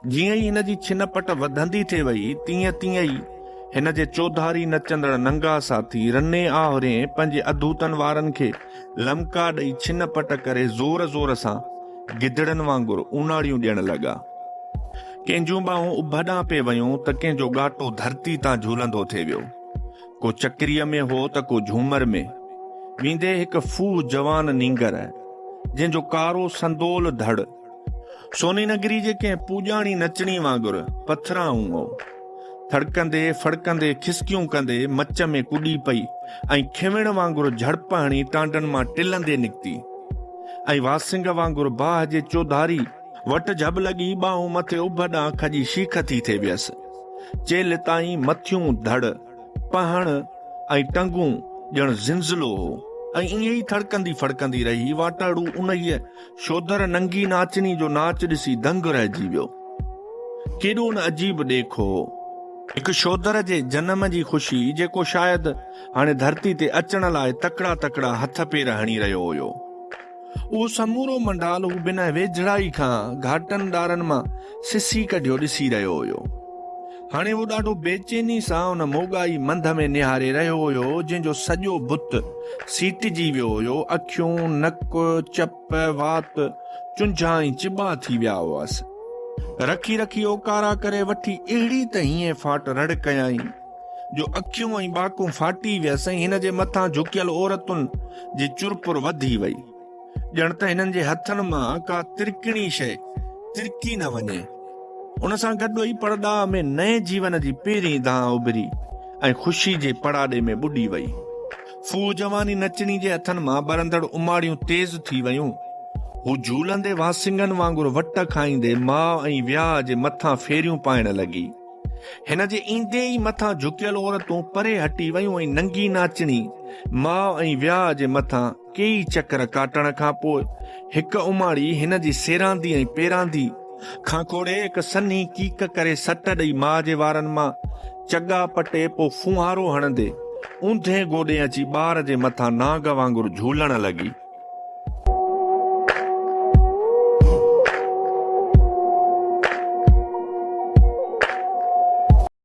جيئن ئي هن جي ڇن پٽ وڌندي ٿي وئي تيئن تيئن ئي هن جي چوڌاري نچندڙ ننگا ساٿي رني آهورين پنهنجي اڌوتن وارن کي لمڪا ڏئي ڇن پٽ ڪري زور زور سان گدڙن وانگر اوناڙيون ڏيڻ لڳا. ڪنهن جون ٻانهون اڀ ڏانهن پئي ويون ته ڪنهن جو ڳاٽو ڌرتي تان جهولندو ٿي ويو. ڪو چڪريء ۾ هو ته ڪو جهومر ۾. ويندي هڪ ڦوهه جوان نينگر، جنهن جو ڪارو سندول ڌڙ، سوني نگري جي ڪنهن پوڄاڻي نچڻي وانگر پٿرائون هو. ٿڙڪندي ڦڙڪندي کسڪيون ڪندي مچ ۾ ڪڏي پئي ۽ کيوڻ وانگر جهڙپ هڻي ٽانڊن مان ٽلندي نڪتي ۽ واسنگ وانگر باهه جي چوڌاري وٽ جهٻ لڳي ٻانهون مٿي اڀ ڏانهن کڄي شيخ ٿي ٿي ويس. چيلهه تائين مٿيون ڌڙ، پهڻ ۽ ٽنگون ڄڻ زنزلو هو ۽ ائين ئي ٿڙڪندي ڦڙڪندي رهي واٽهڙو انهيء شودر ننگي ناچڻي جو ناچ ڏسي دنگ رهجي ويو. ڪيڏو نه عجيب ڏيک هو. هڪ شودر جي جنم جي خوشي جيڪو شايد هاڻي ڌرتي تي اچڻ لاء تڪڙا تڪڙا هٿ پير هڻي رهيو هيو. اهو سمورو منڊال هو بنهه ويجهڙائي کان گهاٽن ڏارن مان سسي ڪڍيو ڏسي رهيو هيو. هاڻي هو ڏاڍو بيچيني سان ان موڳائي منڌ ۾ نهاري رهيو هيو، جنهن جو سڄو بت سيٽجي ويو هيو، اکيون، نڪ، چپ، وات، چنجها ۽ چٻا ٿي ويا هئس. رکي رکي اوڪارا ڪري وٺي اهڙي ته هيئن ڦاٽ رڙ ڪيائين، جو اکيون ۽ ٻاڪون ڦاٽي ويس ۽ هن جي مٿان جهڪيل عورتن جي چرپر وڌي وئي. ڄڻ ته هنن جي هٿن مان ڪا ترڪڻي شيء ترڪي نه وڃي. ان سان گڏ ئي پڙڏاهه ۾ نئين جيون جي پهرين دانهن اڀري ۽ خوشي جي پڙاڏي ۾ ٻڏي وئي. ڦوهه جواني نچڻي جي هٿن مان ٻرندڙ اماڙيون تيز ٿي ويون. هو جهولندي وانسنگن وانگر وٽ کائيندي ماء ۽ وياهه جي مٿان ڦيريون پائڻ لڳي. هن جي ايندي ئي مٿان جهڪيل عورتون پري هٽي ويون ۽ ننگي ناچڻي ماء ۽ وياهه جي مٿان ڪيئي چڪر ڪاٽڻ کان پوء هڪ اماڻي هن جي سيراندي ۽ پيراندي کان کوڙي هڪ سنهي ڪيڪ ڪري سٽ ڏئي ماء جي وارن مان چڳا پٽي پوء ڦونهارو هڻندي اونڌي گوڏي اچي ٻار جي مٿان نانگ وانگر جهولڻ لڳي.